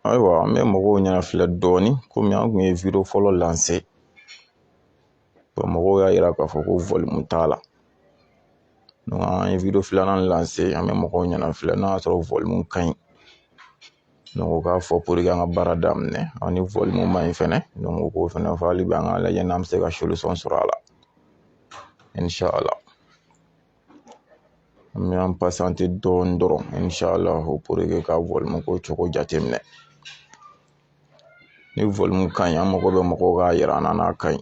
ayiwa an bɛ mɔgɔw ɲɛna filɛ dɔɔnin komi an kun ye vidéo fɔlɔ lancer mɔgɔw y'a yira k'a fɔ ko volume t'a la donc an ye vidéo filanan lancer an bɛ mɔgɔw ɲɛna filɛ n'a y'a sɔrɔ volume ka ɲi donc u k'a fɔ pour que an ka baara daminɛ ni volume ma ɲi fɛnɛ donc u k'o fɛnɛ fɔ hali bi an k'a lajɛ n'an bɛ se ka solution sɔrɔ a la An bɛ an patienter dɔɔni dɔrɔn inchallah pour que ka volume ko cogo jateminɛ ni volume ka ɲi an mago bɛ mɔgɔw k'a yira an na n'a ka ɲi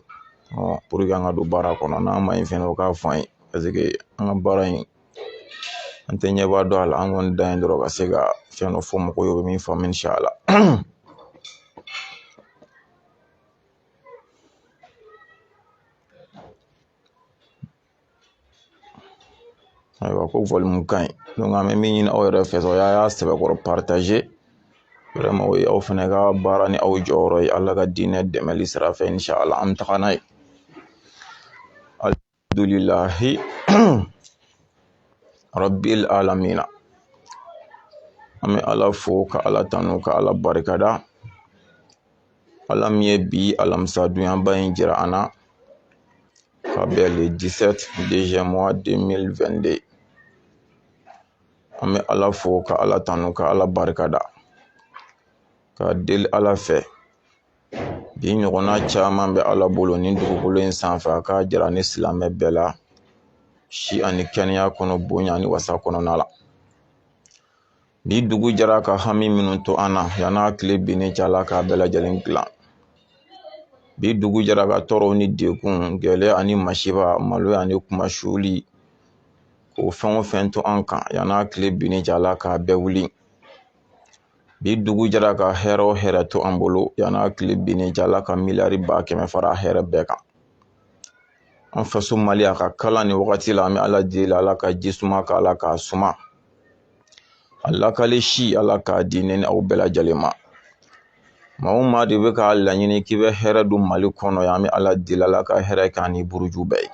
pour que an ka don baara kɔnɔ n'a ma ɲi fɛnɛ o k'a fɔ an ye parce que an ka baara in an tɛ ɲɛba dɔn a la an kɔni dan ye dɔrɔn ka se ka fɛn dɔ fɔ mɔgɔw ye u bɛ min faamu inchallah ayiwa ko volume ka ɲi donc an bɛ min ɲini aw yɛrɛ fɛ o y'a sɛbɛkɔrɔ partager vraiment o ye aw fana ka baara ni aw jɔyɔrɔ ye ala ka diinɛ dɛmɛli sira fɛ inchallah an bɛ taga n'a ye alihamdulilahi rabili alamina an bɛ ala fo ka ala tanu ka ala barikada ala min ye bi alamisa don ɲumanba in jira an na ka bɛn le 17 deuxième mois 2022 an bɛ ala fo ka ala tanu ka ala barika da ka deli ala fɛ bi ɲɔgɔnna caman bɛ ala bolo ni dugukolo in sanfɛ a k'a jira ni silamɛ bɛɛ la si ani kɛnɛya kɔnɔ bonya ni wasa kɔnɔna la Bi dugu jɛra ka hami minnu to an na yan n'a tile binni cɛ ala k'a bɛɛ lajɛlen dilan bi dugu jɛra ka tɔɔrɔw ni degun gɛlɛya ani masiba maloya ani kunmasuli k'o fɛn o fɛn to an kan yan n'a tile binni cɛ ala k'a bɛɛ wuli bi dugu jɛra ka hɛrɛ o hɛrɛ to an bolo yan n'a tile binni cɛ ala ka miliyari ba kɛmɛ fara hɛrɛ bɛɛ kan an faso mali a ka kalan ni wagati la an bɛ ala deli ala ka ji suma k'a la k'a suma a lakali si ala k'a di ne ni aw bɛɛ lajɛlen ma maa o maa de bɛ k'a laɲini k'i bɛ hɛrɛ don mali kɔnɔ yan an bɛ ala deli ala ka hɛrɛ k'a ni buruju bɛɛ ye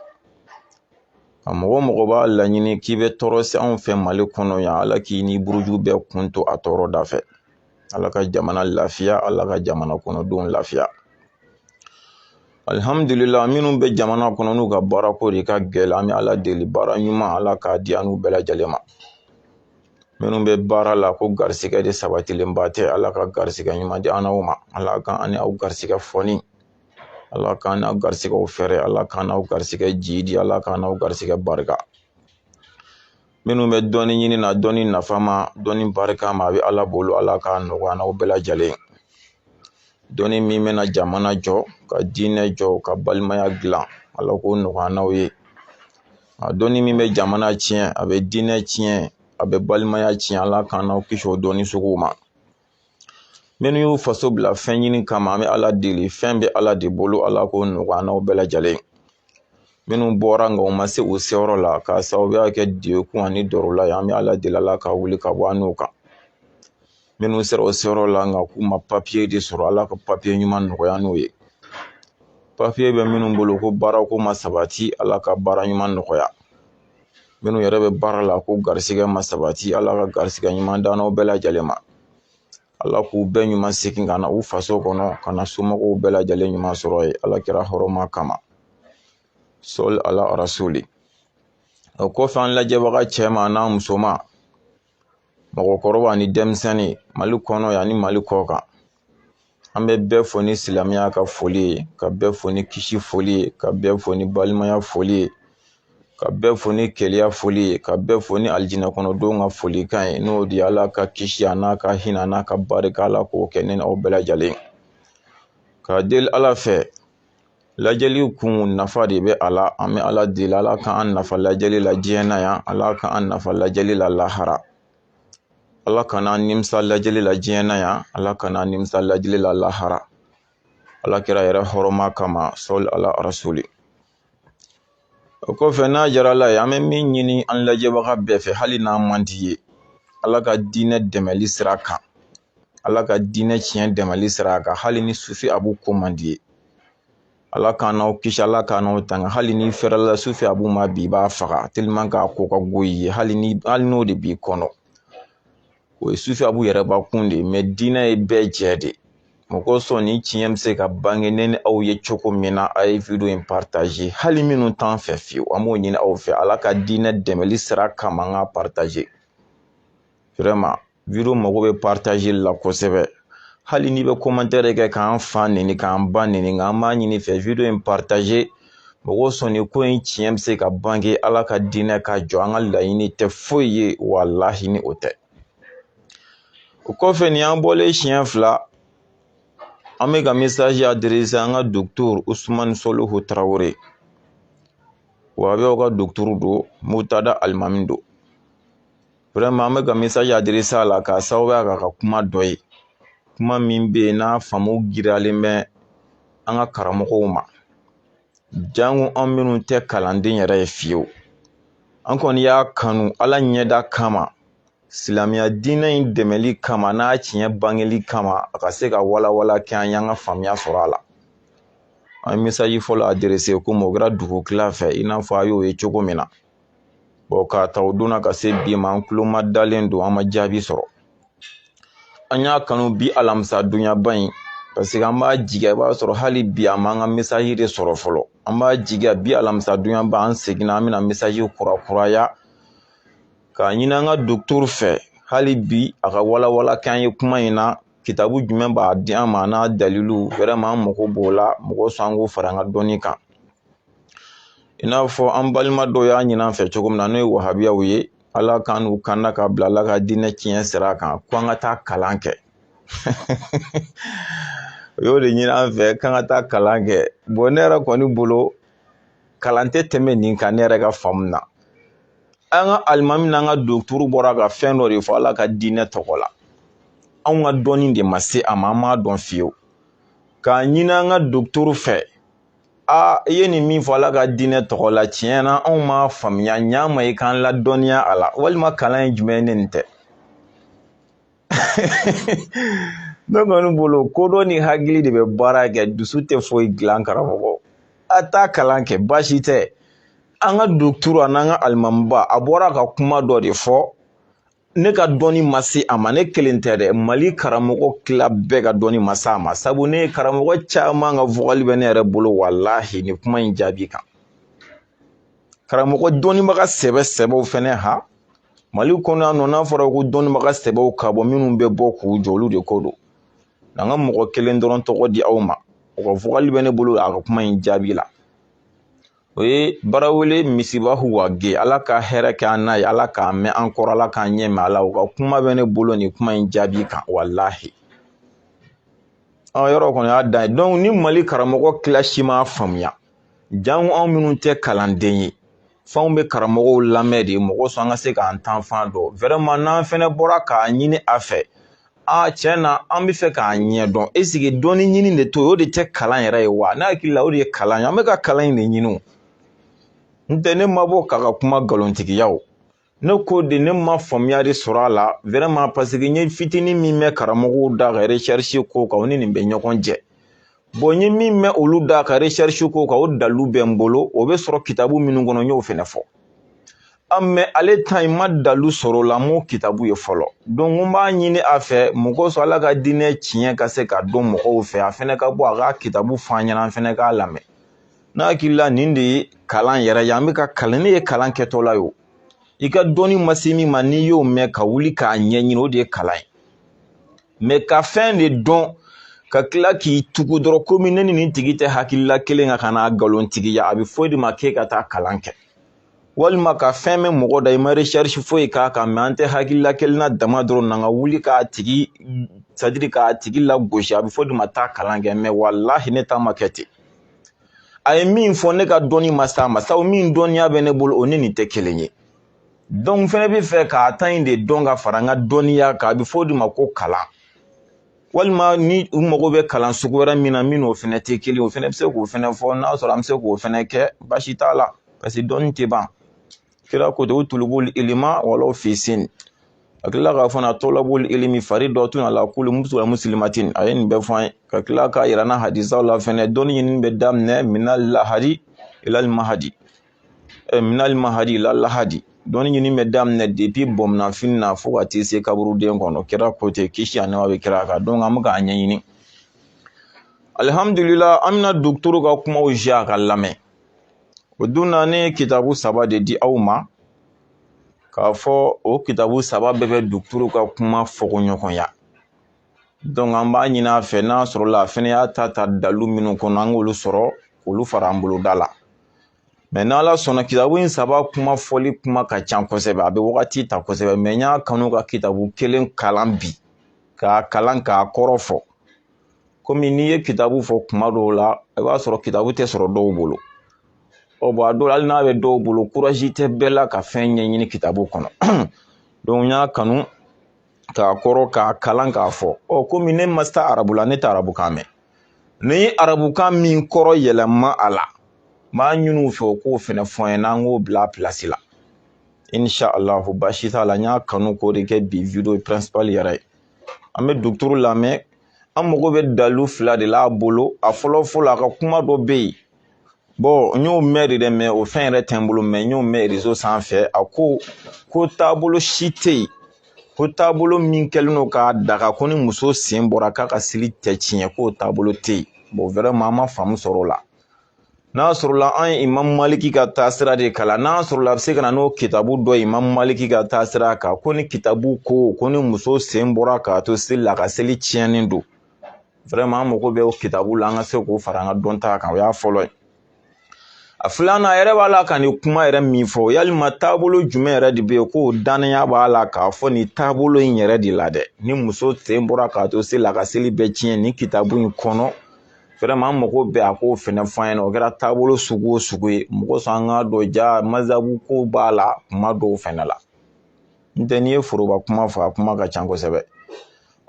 a mɔgɔ mɔgɔ b'a laɲini k'i bɛ tɔɔrɔ se anw fɛ mali kɔnɔ yan ala k'i ni buruju bɛɛ kun to a tɔɔrɔ da fɛ ala ka jamana lafiya ala ka jamana kɔnɔdenw lafiya alihamdulila minnu bɛ jamana kɔnɔ n'u ka baarako de ka gɛlɛn an bɛ ala deli baara ɲuman ala k'a di an n'u bɛɛ lajɛlen ma minnu bɛ baara la ko garisigɛ de sabatilenba tɛ ala ka garisigɛ ɲuman di an n'aw ma ala ka an ni aw garisigɛ fɔni ala k'an n'aw garisigɛw fɛɛrɛ ala k'an n'aw garisigɛ jidi ala k'an n'aw garisigɛ barika minnu bɛ dɔnni ɲini na dɔnni nafama dɔnni barikama a bɛ ala bolo ala k'a nɔgɔya an n'aw bɛɛ lajɛlen ye dɔnni min bɛna jamana jɔ ka diinɛ jɔ ka balimaya dilan ala k'o nɔgɔya an n'aw ye a dɔnni min bɛ jamana tiɲɛ a bɛ diinɛ tiɲɛ a bɛ balimaya tiɲɛ ala k'an n'aw kisi o dɔnni suguw ma minnu y'u faso bila fɛn ɲini kama an bɛ ala deli fɛn bɛ ala de bolo ala k'o nɔgɔya an n'aw bɛɛ lajɛlen minnu bɔra nka u ma se u seyɔrɔ la k'a sababuya kɛ degun ani dɔrɔla ye an bɛ ala deli ala k'a wuli ka bɔ an n'u kan minnu sera u seyɔrɔ la nka k'u ma papiye de sɔrɔ ala ka papiye ɲuman nɔgɔya an n'u ye papiye bɛ minnu bolo ko baarako ma sabati ala ka baara ɲuman nɔgɔya minnu yɛrɛ bɛ baara la ko garisigɛ ma sabati ala ka garisigɛ ɲuman d'an n'aw bɛɛ lajɛlen ma ala k'u bɛɛ ɲuman segin ka na u faso kɔnɔ ka na somɔgɔw bɛɛ lajɛlen ɲuman sɔrɔ yen ala kira hɔrɔma kama sɔli ala rasuli o kɔfɛ an lajɛbaga cɛman n'a musoman mɔgɔkɔrɔba ni denmisɛnnin mali kɔnɔ yan ni mali kɔkan an bɛ bɛɛ fo ni silamɛya ka foli ye ka bɛɛ fo ni kisi foli ye ka bɛɛ fo ni balimaya foli ye ka bɛɛ fo ni kelenya foli ye ka bɛɛ fo ni alijinɛ kɔnɔdenw ka folikan ye n'o de ye ala ka kisi an'a ka hinɛ an'a ka barika ala k'o kɛ ne n'aw bɛɛ lajɛlen ka deli ala fɛ lajɛli kun nafa de bɛ a la an bɛ ala deli ala k'an nafa lajɛli la diɲɛ na yan ala k'an nafa lajɛli la lahara ala kan'an nimisa lajɛli la diɲɛ na yan ala kan'an nimisa lajɛli la lahara ala kira yɛrɛ hɔrɔma kama sɔli ala rasuli o kɔfɛ n'a jara ala ye an bɛ min ɲini an lajɛbaga bɛɛ fɛ hali n'a man di i ye ala ka diinɛ dɛmɛli sira kan ala ka diinɛ tiɲɛ dɛmɛli sira kan hali ni sufi abu ko man di i ye ala k'an n'aw kisi ala k'an n'aw tanga hali n'i fɛrɛla sufi abu ma bi i b'a faga tellement k'a ko ka go i ye hali n'o de b'i kɔnɔ o ye sufi abu yɛrɛ bakun de ye mais diinɛ ye bɛɛ jɛ de ye mɔgɔ sɔn ni tiɲɛ bɛ se ka bange ne ni aw ye cogo min na a ye video in partager hali minnu t'an fɛ fiyewu an b'o ɲini aw fɛ ala ka diinɛ dɛmɛli sira kama an k'a partager vraiment video mago bɛ partager la kosɛbɛ hali n'i bɛ commentaire kɛ k'an fa neni k'an ba neni nka an b'a ɲini i fɛ video in partager mɔgɔ sɔn ni ko in tiɲɛ bɛ se ka bange ala ka diinɛ ka jɔ an ka laɲini tɛ foyi ye walahi ni o tɛ o kɔfɛ nin an bɔlen siɲɛ fila an bɛ ka message adresser an ka docteur usumani sɔlihu tarawele wa a bɛɛ ka docteur don muntada alimami don an bɛ ka mesaji aderese a la k'a sababuya k'a ka kuma dɔ ye kuma min bɛ yen n'a faamu giriyalen bɛ an ka karamɔgɔw ma janko an minnu tɛ kalanden yɛrɛ ye fiyewu an kɔni y'a kanu ala ɲɛda kama silamɛya diinɛ in dɛmɛli kama n'a tiɲɛ bangeli kama a ka se ka walawala kɛ an y'an ka faamuya sɔrɔ a la an ye mesaji fɔlɔ aderese kɔmi o kɛra dugu tila fɛ i n'a fɔ a y'o ye cogo min na k'a ta o donna ka se bi ma an tulo ma dalen don an ma jaabi sɔrɔ an y'a kanu bi alamisa donyaba in paseke an b'a jigiya i b'a sɔrɔ hali bi a m'an ka mesaji de sɔrɔ fɔlɔ an b'a jigiya bi alamisa donyaba an seginna an bɛna mesaji kurakuraya k'a ɲini an ka dɔgɔtɔrɔ fɛ hali bi a ka walawala k'an ye kuma in na kitabu jumɛn b'a di an ma n'a dalilu wɛrɛma an mago b'o la mɔgɔ sɔn an k'o fara an ka dɔnni kan i n'a fɔ an balima dɔw y'a ɲini an fɛ cogo min na n'o ye wahabiyaw ye ala k'an n'u kanda ka bila ala ka diinɛ tiɲɛ sira kan ko an ka taa kalan kɛ u y'o de ɲini an fɛ k'an ka taa kalan kɛ bɔn ne yɛrɛ kɔni bolo kalan tɛ tɛmɛ nin kan ne yɛrɛ ka faamu na an ka alimami n'an ka dɔgɔtɔrɔ bɔra ka fɛn dɔ de fɔ ala ka diinɛ tɔgɔ la anw ka dɔnni de ma se a ma an m'a dɔn fiyewu k'a ɲini an ka dɔgɔtɔrɔ fɛ aa i ye nin min fɔ ala ka diinɛ tɔgɔ la tiɲɛ na anw m'a faamuya ɲa ma i k'an ladɔnniya a la walima kalan ye jumɛn ye ni nin tɛ ne kɔni bolo kodɔn ni hakili de bɛ baara kɛ dusu tɛ foyi dilan karamɔgɔ a taa kalan kɛ baasi tɛ an ka dɔgɔtɔrɔ an'an ka alimamiba a bɔra ka kuma dɔ de fɔ ne ka dɔnni ma se a ma ne kelen tɛ dɛ mali karamɔgɔ tila bɛɛ ka dɔnni ma se a ma sabu ne ye karamɔgɔ caman ka vokali bɛ ne yɛrɛ bolo walahi nin kuma in jaabi kan karamɔgɔ dɔnnibaga sɛbɛ sɛbɛw fɛnɛ ha mali kɔnɔ yan nɔ n'a fɔra ko dɔnnibaga sɛbɛw ka bɔ minnu bɛ bɔ k'u jɔ olu de ko don n'an ka mɔgɔ kelen dɔrɔn tɔgɔ di aw ma u ka vokali bɛ ne bolo a ka kuma in jaabi la o ye barawele misibahu wage ala ka hɛrɛ kɛ an n'a ye ala k'a mɛn an kɔrɔ ala k'an ɲɛ mɛn ala u ka kuma bɛ ne bolo nin kuma in jaabi kan walahi o yɔrɔ kɔni y'a dan ye dɔnku ni mali karamɔgɔ tila si m'a faamuya janko anw minnu tɛ kalanden ye f'anw bɛ karamɔgɔw lamɛn de mɔgɔ sɔn an ka se k'an taafan dɔn wɛrɛma n'an fɛnɛ bɔra k'a ɲini a fɛ a tiɲɛ na an bɛ fɛ k'a ɲɛ dɔn eseke dɔnni ɲini de to o de tɛ kalan yɛrɛ ye wa ne hakili la o de ye kalan ye an bɛ ka kalan in de ɲini o nɔntɛ ne ma bɔ k'a ka kuma nkalontigiya o ne ko de ne ma faamuya de sɔrɔ a la wɛrɛma paseke n ye fitinin min mɛn karamɔgɔw da ka resɛrisi ko kan o ni nin bɛ ɲɔgɔn jɛ bɔn n ye min mɛn olu da ka recherche k'o kan o dalilu bɛ n bolo o bɛ sɔrɔ kitabu minnu kɔnɔ n y'o fɛnɛ fɔ a mɛ ale ta in ma dalilu sɔrɔ o la n m'o kitabu ye fɔlɔ donc n b'a ɲini a fɛ mɔgɔ sɔrɔ ala ka diinɛ tiɲɛ ka se ka dɔn mɔgɔw fɛ a fɛnɛ ka bɔ a ka kitabu fɔ an ɲɛna an fɛnɛ k'a lamɛn n'a hakili la nin de ye kalan yɛrɛ ye an bɛ ka kalan ne ye kalan kɛtɔla ye o i ka dɔnni ma se min ma n'i y'o mɛn ka wuli k'a ɲɛɲini o de ye kalan ye mɛ ka fɛn de dɔn ka tila k'i tugu dɔrɔn komi ne ni nin tigi tɛ hakilila kelen kan ka n'a nkalontigiya a bɛ fɔ i de ma k'e ka taa kalan kɛ walima ka fɛn mɛn mɔgɔ da i ma recherche foyi k'a kan mɛ an tɛ hakilila kelen na dama dɔrɔn na ka wuli k'a tigi c'est-à-dire k'a tigi lagosi a bɛ fɔ o de ma taa kalan kɛ mɛ walahi ne ta ma kɛ ten a ye min fɔ ne ka dɔnni ma s'a ma sabu min dɔnniya bɛ ne bolo o ni nin tɛ kelen ye donc n fɛnɛ b'a fɛ k'a ta in de dɔn ka fara n ka dɔnniya kan a bɛ fɔ o de ma ko kalan walima ni u mago bɛ kalan sugu wɛrɛ min na min n'o fɛnɛ tɛ kelen o fɛnɛ bɛ se k'o fɛnɛ fɔ n'a sɔrɔ an bɛ se k'o fɛnɛ kɛ baasi t'a la paseke dɔnni tɛ ban kira ko ten utulubul ilima walaw fi sin a tilala k'a fɔ na talabul ilimi faridatun ala kulli musilimin wa musilimatin a ye nin bɛɛ fɔ an ye ka tila k'a yira an na hadisaw la fɛnɛ dɔnni ɲinini bɛ daminɛ minal lahadi ilal mahadi eh, minal mahadi ilal lahadi dɔnni ɲini bɛ daminɛ depi bamunanfini na fo ka t'i se kaburuden kɔnɔ kira ko ten kisi ani nɛma bɛ kira kan donc an bɛ k'a ɲɛɲini alihamudulila an bɛna dɔgɔtɔrɔ ka kumaw zi a k'a lamɛn o don na ne ye kitabu saba de di aw ma k'a fɔ o kitabu saba bɛɛ bɛ dɔgɔtɔrɔ ka kuma fɔkoɲɔgɔnya an b'a ɲini a fɛ n'a sɔrɔla a fɛnɛ y'a ta ta dalu minnu kɔnɔ an k'olu sɔrɔ k'olu fara an boloda la mɛ n'ala sɔnna kitabu in saba kuma fɔli kuma ka ca kosɛbɛ a bɛ wagati ta kosɛbɛ mɛ n y'a kanu ka kitabu kelen kalan bi k'a kalan k'a kɔrɔ fɔ komi n'i ye kitabu fɔ kuma dɔw la i b'a sɔrɔ kitabu tɛ sɔrɔ dɔw bolo ɔ bɔn a dɔw hali n'a bɛ dɔw bolo kurazi tɛ bɛɛ la ka fɛn ɲɛɲini kitabu kɔnɔ n y'a kanu k'a kɔrɔ k'a kalan k'a fɔ ɔ komi ne ma taa arabu la ne tɛ arabukan mɛn n ye arabukan min kɔrɔ yɛlɛma a la n b'a ɲini u fɛ u k'o fɛnɛ fɔ n ɲɛna an k'o bila a pilasi la insha allahu baasi t'a la n y'a kanu k'o de kɛ bi video principal yɛrɛ ye an bɛ dɔgɔtɔrɔ lamɛn an mago bɛ dalu fila de la a bolo a fɔlɔ fɔlɔ a ka kuma dɔ bɛ yen n y'o mɛn de dɛ mɛ o fɛn yɛrɛ tɛ n bolo mɛ n y'o mɛn rezo sanfɛ a ko ko taabolo si tɛ yen ko taabolo min kɛlen don k'a daga ko ni muso sen bɔra k'a ka seli tɛ tiɲɛ k'o taabolo tɛ yen bɔn vraiment an ma faamu sɔrɔ o la n'a sɔrɔla an ye imamu maliki ka taasira de kalan n'a sɔrɔla a bɛ se ka na n'o kitabu dɔ ye imamu maliki ka taasira kan ko ni kitabu ko ko ni muso sen bɔra k'a to seli la a ka seli tiɲɛnen don an mago bɛ o kitabu la an ka se k'o fara an ka dɔnta kan o y'a fɔlɔ ye a filanan a yɛrɛ b'a la ka nin kuma yɛrɛ min fɔ yalima taabolo jumɛn yɛrɛ de bɛ yen ko dannaya b'a la k'a fɔ nin taabolo in yɛrɛ de la dɛ ni muso sen bɔra k'a to seli la a ka seli bɛɛ tiɲɛ nin kitabu in kɔnɔ vraiment an mago bɛ a k'o fɛnɛ fɔ an ɲɛna o kɛra taabolo sugu o sugu ye mun kosɔn an k'a dɔn ja mazabu ko b'a la kuma dɔw fɛnɛ la n tɛ n'i ye foroba kuma fɔ a kuma ka ca kosɛbɛ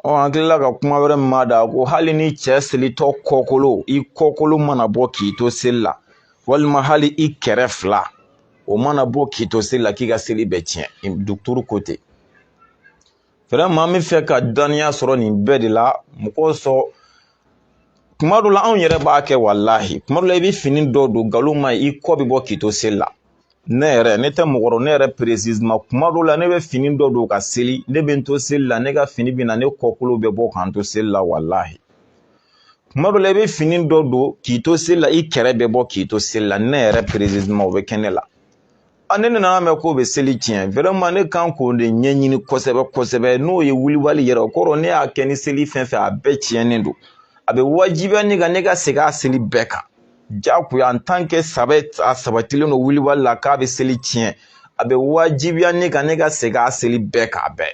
ɔ an kilala ka kuma wɛrɛ mɛn a da ko hali ni cɛ selitɔ kɔkolo i kɔkolo mana bɔ k'i to seli la walima hali i kɛrɛ fila o mana bɔ k'i to seli la k'i ka seli bɛɛ tiɲɛ duturu ko ten vraiment an bɛ fɛ ka dɔnniya sɔrɔ nin bɛɛ de la mun kosɔn kuma dɔ la anw yɛrɛ b'a kɛ walahi kuma dɔ la i bɛ fini dɔ don nkalon ma i kɔ bɛ bɔ k'i to seli la ne yɛrɛ ne tɛ mɔgɔ dɔn ne yɛrɛ précisément kuma dɔw la ne bɛ fini dɔ don ka seli ne bɛ n to seli la ne ka fini bɛ na ne kɔkolo bɛ bɔ ka n to seli la walahi kuma dɔw la i bɛ fini dɔ don k'i to seli la i kɛrɛ bɛ bɔ k'i to seli la ne yɛrɛ précisément o bɛ kɛ ne la a ne nana mɛn k'o bɛ seli tiɲɛ vraiment ne kan k'o de ɲɛɲini kosɛbɛ kosɛbɛ n'o ye wulibali yɛrɛ o kɔrɔ ne y'a kɛ ni seli fɛn fɛn a bɛɛ tiɲɛnen don a bɛ wajibiya ne kan ne ka segin a seli bɛɛ kan jagoya en tant que saba a sabatilen don wulibali la k'a bɛ seli tiɲɛ a bɛ wajibiya ne kan ne ka segin a seli bɛɛ k'a bɛɛ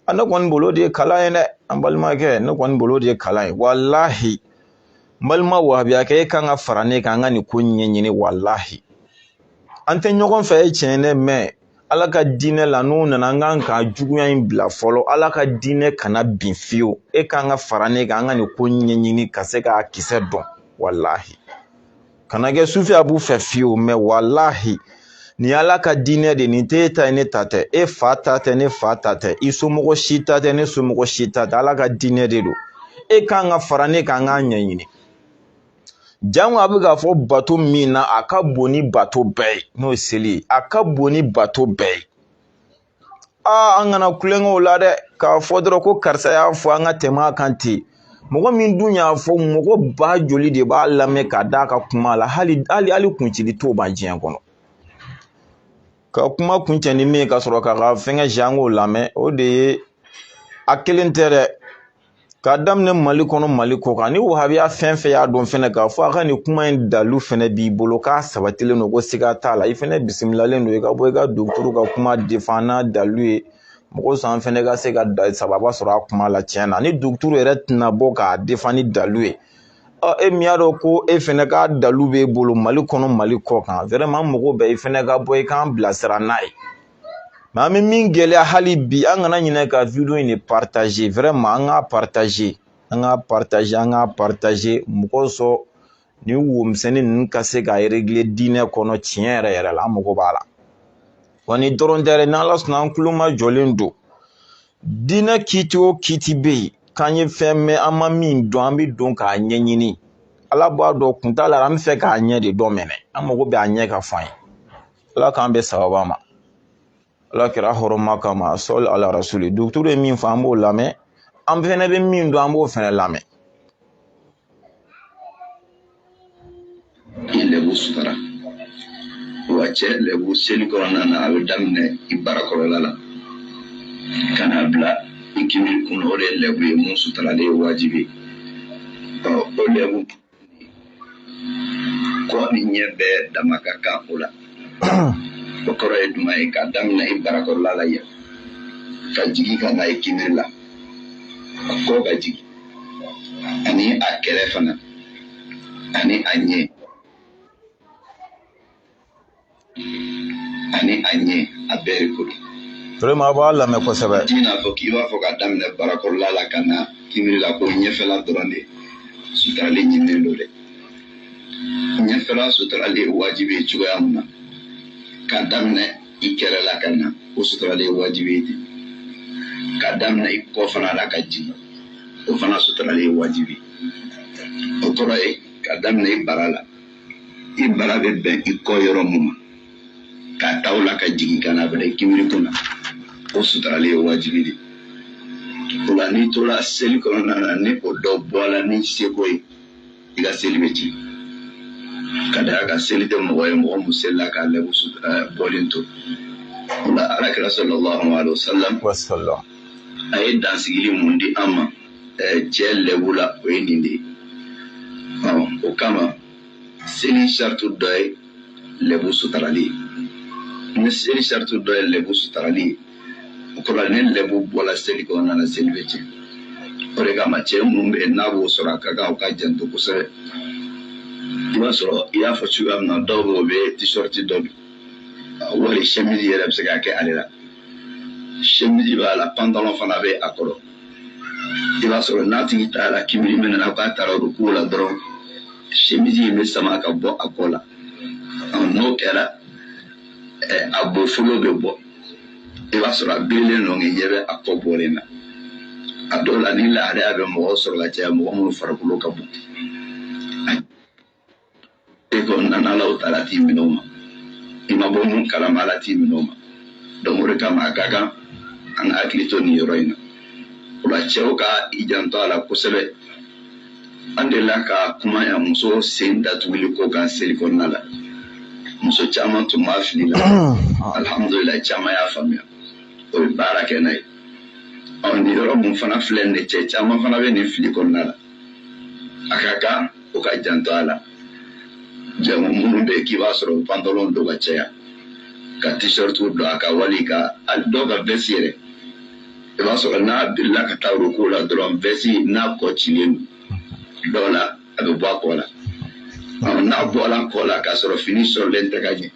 a ne kɔni bolo de ye kalan ye dɛ an balimakɛ ne kɔni bolo de ye kalan ye walahi n balima wahabiya kɛ e kan ka fara ne kan an ka nin ko ɲɛɲini walahi an tɛ ɲɔgɔn fɛ ye tiɲɛ ye dɛ mais ala ka diinɛ la n'o nana an kan ka juguya in bila fɔlɔ ala ka diinɛ kana bin fiyewu e kan ka fara ne kan an ka nin ko ɲɛɲini ka se k'a kisɛ dɔn walahi kana kɛ sufi a b'u fɛ fiyewu mais walahi nin ala ka diinɛ de nin t'e ta ye ne ta tɛ e fa ta tɛ ne fa ta tɛ i somɔgɔ si ta tɛ ne somɔgɔ si ta tɛ ala ka diinɛ de don e kan ka fara ne kan an k'a ɲɛɲini jango a bɛ k'a fɔ bato min na a ka bon ni bato bɛɛ ye n'o ye seli ye a ka bon ni bato bɛɛ ye aa an kana kulonkɛ o la dɛ k'a fɔ dɔrɔn ko karisa y'a fɔ an ka tɛmɛ a kan ten mɔgɔ min dun y'a fɔ mɔgɔ ba joli de b'a lamɛn ka d'a ka kuma la hali hali hali kuncili t'o ban diɲɛ kɔnɔ ka kuma kuncɛ ni min ye ka sɔrɔ k'a ka fɛngɛ jango lamɛn o de ye a kelen tɛ dɛ k'a daminɛ mali kɔnɔ mali kɔ kan ni wahabiya fɛn fɛn y'a dɔn fɛnɛ k'a fɔ a ka nin kuma in dalu fɛnɛ b'i bolo k'a sabatilen don ko siga t'a la i fɛnɛ bisimilalen don i ka bɔ i ka duguturu ka kuma defan n'a dalu ye mun kosɔn an fɛnɛ ka se ka sababa sɔrɔ a kuma la tiɲɛ na ni duguturu yɛrɛ tɛna bɔ k'a defan ni dalu ye ɔ e min y'a dɔn ko e fɛnɛ ka dalu b'e bolo mali kɔnɔ mali kɔ kan vraiment an mago bɛ i fɛnɛ ka bɔ i k'an bilasira n'a ye mais an bɛ min gɛlɛya hali bi an kana ɲinɛ ka video in de partager vraiment an k'a partager an k'a partager an k'a partager mɔgɔ sɔrɔ nin womisɛnnin ninnu ka se ka regler diinɛ kɔnɔ tiɲɛ yɛrɛ yɛrɛ la an mago b'a la wa nin dɔrɔn tɛ dɛ n'ala sɔnna an tulomajɔlen don diinɛ kiti o kiti bɛ yen k'an ye fɛn mɛn an ma min dɔn an bɛ don k'a ɲɛɲini ala b'a dɔn kun t'a la an bɛ fɛ k'a ɲɛ de dɔn mɛnɛ an mago bɛ a ɲɛ ka fɔ an ye ala k'an bɛn sababu ma alakira hɔrɔma kama sali ala rasuli dɔgɔtɔrɔ ye min fɔ an b'o lamɛn an fɛnɛ bɛ min dɔn an b'o fɛnɛ lamɛn i lɛbu sutara wa cɛ lɛbu seli kɔnɔna na a bɛ daminɛ i barakɔrɔla la ka na bila i kimiri kun o de ye lɛbu ye min sutarali ye wajibi ɔ o lɛbu kɔ ni ɲɛ bɛɛ dama ka kan o la o kɔrɔ ye jumɛn ye ka daminɛ i barakɔrɔla la yan ka jigin ka na i kimiri la a kɔ ka jigin ani a kɛrɛ fana ani a ɲɛ ani a ɲɛ a bɛɛ de ko don vraiment a b'a lamɛn kosɛbɛ t'i n'a fɔ k'i b'a fɔ ka daminɛ barakɔrɔla la ka na kimiri la ko ɲɛfɛla dɔrɔn de sutarali ɲininen don dɛ ɲɛfɛla sutarali ye wajibi ye cogoya min na ka daminɛ i kɛrɛ la ka na o sutarali ye wajibi ye ten ka daminɛ i kɔ fana la ka jigin o fana sutarali ye wajibi o kɔrɔ ye ka daminɛ i bara la i bara bɛ bɛn i kɔ yɔrɔ min ma k'a ta o la ka jigin ka na bila i kimiri kun na o sutarali ye wajibi de o la n'i tora seli kɔnɔna na ni o dɔ bɔla ni seko ye i ka seli bɛ tiɲɛ ka d'a kan seli tɛ mɔgɔ ye mɔgɔ min selila k'a lɛbu bɔlen to o la alakira sallallahu alaihi wasallam a ye dansigili min di an ma cɛ lɛbu la o ye nin de ye o kama seli sarati dɔ ye lɛbu sutarali ye ni seli sarati dɔ ye lɛbu sutarali ye o kɔrɔ ni lɛbu bɔla seli kɔnɔna na seli bɛ tiɲɛ o de kama cɛ minnu bɛ yen n'a b'o sɔrɔ a ka kan u ka janto kosɛbɛ i b'a sɔrɔ i y'a fɔ cogoya min na dɔw bɛ yen u bɛ t-shirt dɔ don wali chemise yɛrɛ bɛ se ka kɛ ale la chemise b'a la pantalon fana bɛ a kɔrɔ i b'a sɔrɔ n'a tigi taara k'i biri min na k'a taara ruku la dɔrɔn chemise in bɛ sama ka bɔ a kɔ la n'o kɛra a bofolo bɛ bɔ i b'a sɔrɔ a birilen don k'i ɲɛ bɛ a kɔ bɔlen na a dɔw la nin lahalaya bɛ mɔgɔ sɔrɔ ka caya mɔgɔ minnu farikolo ka bon e ko nana alahu taala t'i minɛ o ma i ma bɔ mun kalama ala t'i minɛ o ma donc o de kama a ka kan an ka hakili to nin yɔrɔ in na o la cɛw ka i janto a la kosɛbɛ an delila ka kuma yan muso sen datuguli ko kan seli kɔnɔna la muso caman tun b'a fili la alhamdulila caman y'a faamuya o ye baara kɛ n'a ye ɔ nin yɔrɔ mun fana filɛ nin ye cɛ caman fana bɛ nin fili kɔnɔna la a ka kan o ka janto a la jama minnu bɛ k'i b'a sɔrɔ pantalon don ka caya ka t-shirt don a kan wali ka a dɔw ka veste yɛrɛ i b'a sɔrɔ n'a birila ka taa ruku la dɔrɔn veste n'a kɔ cilen don dɔw la a bɛ bɔ a kɔ la n'a bɔra a kɔ la k'a sɔrɔ fini sɔrɔlen tɛ ka ɲɛ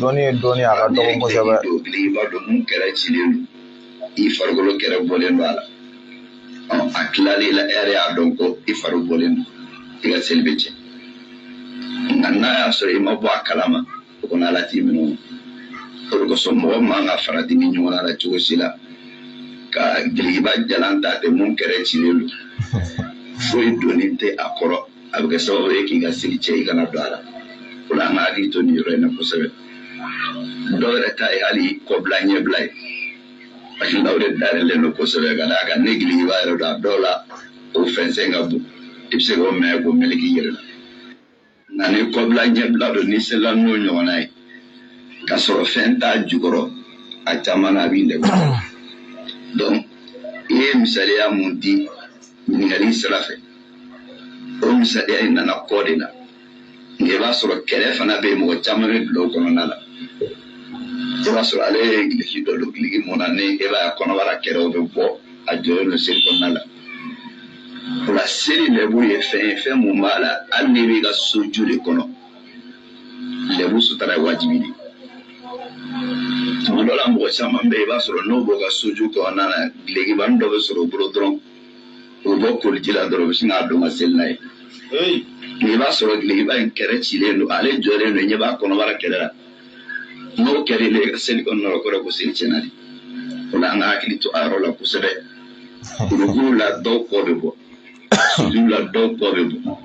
dɔnni ye dɔnni a ka dɔgɔ kosɛbɛ i b'a dɔn mun kɛrɛ cilen don i farikolo kɛrɛ bɔlen don a la a tilalen la e yɛrɛ y'a dɔn ko i fari bɔlen don i ka seli bɛ tiɲɛ nka n'a y'a sɔrɔ i ma bɔ a kalama o kɔnɔ ala t'i minɛ o de kosɔn mɔgɔ man ka farati nin ɲɔgɔn la cogo si la ka gilikiba jalan ta ten mun kɛrɛ cilen don foyi donnen tɛ a kɔrɔ a bɛ kɛ sababu ye k'i ka seli tiɲɛ i kana don a la o la an ka hakili to nin yɔrɔ in na kosɛbɛ dɔw yɛrɛ ta ye hali kɔbila ɲɛbila ye parce que o de dayɛlɛlen don kosɛbɛ ka d'a kan ni gilikiba yɛrɛ don a dɔw la o fɛnsɛn ka bon i bɛ se k'o minɛ k'o meleke i yɛrɛ la nka ni kɔbila ɲɛbila don n'i selila n'o ɲɔgɔnna ye ka sɔrɔ fɛn t'a jukɔrɔ a caman na a b'i lɛbu donc i ye misaliya mun di ɲininkali sira fɛ o misaliya in nana kɔ de la nka i b'a sɔrɔ kɛrɛ fana bɛ yen mɔgɔ caman bɛ bila o kɔnɔna la i b'a sɔrɔ ale ye giliki dɔ don giliki mun na ɲɛ b'a kɔnɔbara kɛrɛw bɛ bɔ a jɔlen don seli kɔnɔna la o la seli lɛbu ye fɛn ye fɛn mun b'a la hali n'i b'i ka soju de kɔnɔ lɛbu sutara ye wajibi de tuma dɔ la mɔgɔ caman bɛ yen i b'a sɔrɔ n'o b'o ka soju kɔnɔna na gilekibani dɔ bɛ sɔrɔ o bolo dɔrɔn o bɔ koliji la dɔrɔn u bɛ sin k'a don ka seli n'a ye i b'a sɔrɔ gilikiba in kɛrɛ cilen don ale jɔlen don ɲɛ b'a kɔnɔbara kɛrɛ la n'o kɛra ile ka seli kɔnɔna la o kɔrɔ ko seli tiɲɛna de o la an ka hakili to a yɔrɔ la kosɛbɛ ruku la dɔw kɔ bɛ bɔ sujudu la dɔw kɔ bɛ bɔ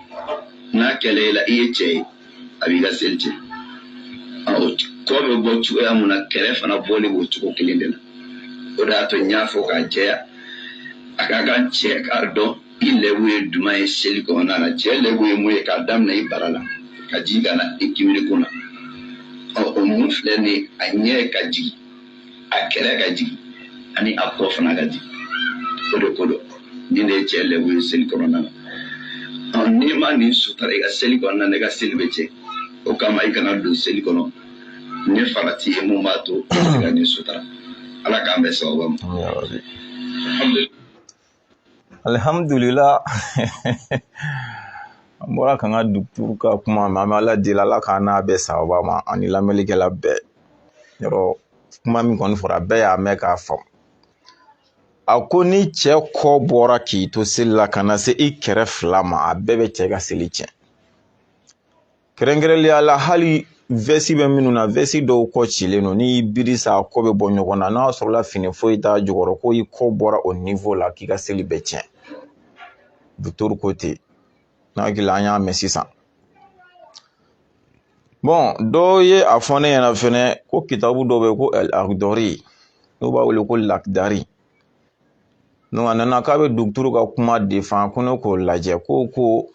n'a kɛra i la i ye cɛ ye a b'i ka seli tiɲɛ kɔ bɛ bɔ cogoya mun na kɛrɛ fana bɔli b'o cogo kelen de la o de y'a to n y'a fɔ k'a jɛya a ka kan cɛ k'a dɔn i lɛbu ye jumɛn ye seli kɔnɔna na cɛ lɛbu ye mun ye k'a daminɛ i bara la ka jigin ka na i kimiri kun na o mun filɛ nin a ɲɛ ka jigin a kɛrɛ ka jigin ani a kɔ fana ka jigin o de ko dɔ nin de ye cɛ lɛbu ye seli kɔnɔna na n'i ma nin sutara i ka seli kɔnɔna na i ka seli bɛ tiɲɛ o kama i kana don seli kɔnɔ ni farati ye mun b'a to i ka nin sutara ala k'an bɛn sababa ma alihamudulila an bɔra k'an ka duguturu ka kuma mɛn an bɛ ala deli ala k'an n'a bɛn sababa ma ani lamɛnlikɛla bɛɛ yɔrɔ kuma min kɔni fɔra bɛɛ y'a mɛn k'a faamu a ko ni cɛ kɔ bɔra k'i to seli la ka na se i kɛrɛ fila ma a bɛɛ bɛ cɛ ka seli tiɲɛ kɛrɛnkɛrɛnlenya la hali vɛsi bɛ minnu na vɛsi dɔw kɔ cilen don n'i biri sa a kɔ bɛ bɔ ɲɔgɔn na n'a sɔrɔla fini foyi t'a jukɔrɔ ko i kɔ bɔra o niwo la k'i ka seli bɛ tiɲɛ duguturu ko ten n'a hakili an y'a mɛn sisan bɔn dɔw ye a fɔ ne ɲɛna fɛnɛ ko kitabu dɔ bɛ ko alakidari n'u b'a wele ko lakidari a nana k'a bɛ duguturu ka kuma defan ko ne k'o lajɛ ko ko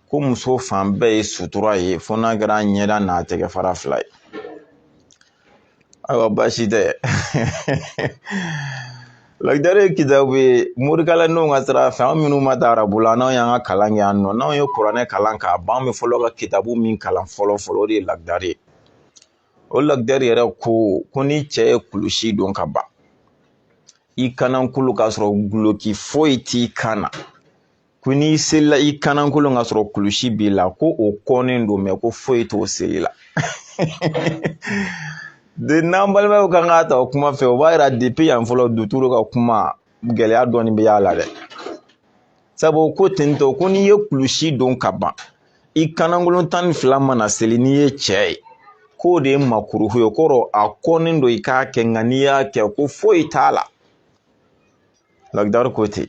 ko muso fan bɛɛ ye sutura ye fo n'a kɛra ɲɛda n'a tɛgɛ fara fila ye ayiwa baasi tɛ lakidari ye kitabu ye morikalanw ka sira fɛ an minnu ma taa arabu la n'anw y'an ka kalan kɛ yan nɔ n'anw ye kuranɛ kalan k'a ban an bɛ fɔlɔ ka kitabu min kalan fɔlɔ fɔlɔ o de ye lakidari ye o lakidari yɛrɛ ko ko ni cɛ ye kulusi don ka ban i kanankolon k'a sɔrɔ duloki foyi t'i kan na ko n'i selila i kanankolon k'a sɔrɔ kulusi b'i la ko o kɔnnen don mɛ ko foyi t'o seli la de n'an balimaw kan k'a ta o kuma fɛ o b'a yira depi yan fɔlɔ duturu ka kuma gɛlɛya dɔɔnin bɛ y'a la dɛ sabu ko tentɔ ko n'i ye kulusi don ka ban i kanankolon tan ni fila mana seli n'i ye cɛ ye k'o de ye makuruhu ye kɔrɔ a kɔnnen don i k'a kɛ nka n'i y'a kɛ ko foyi t'a la lakidari ko ten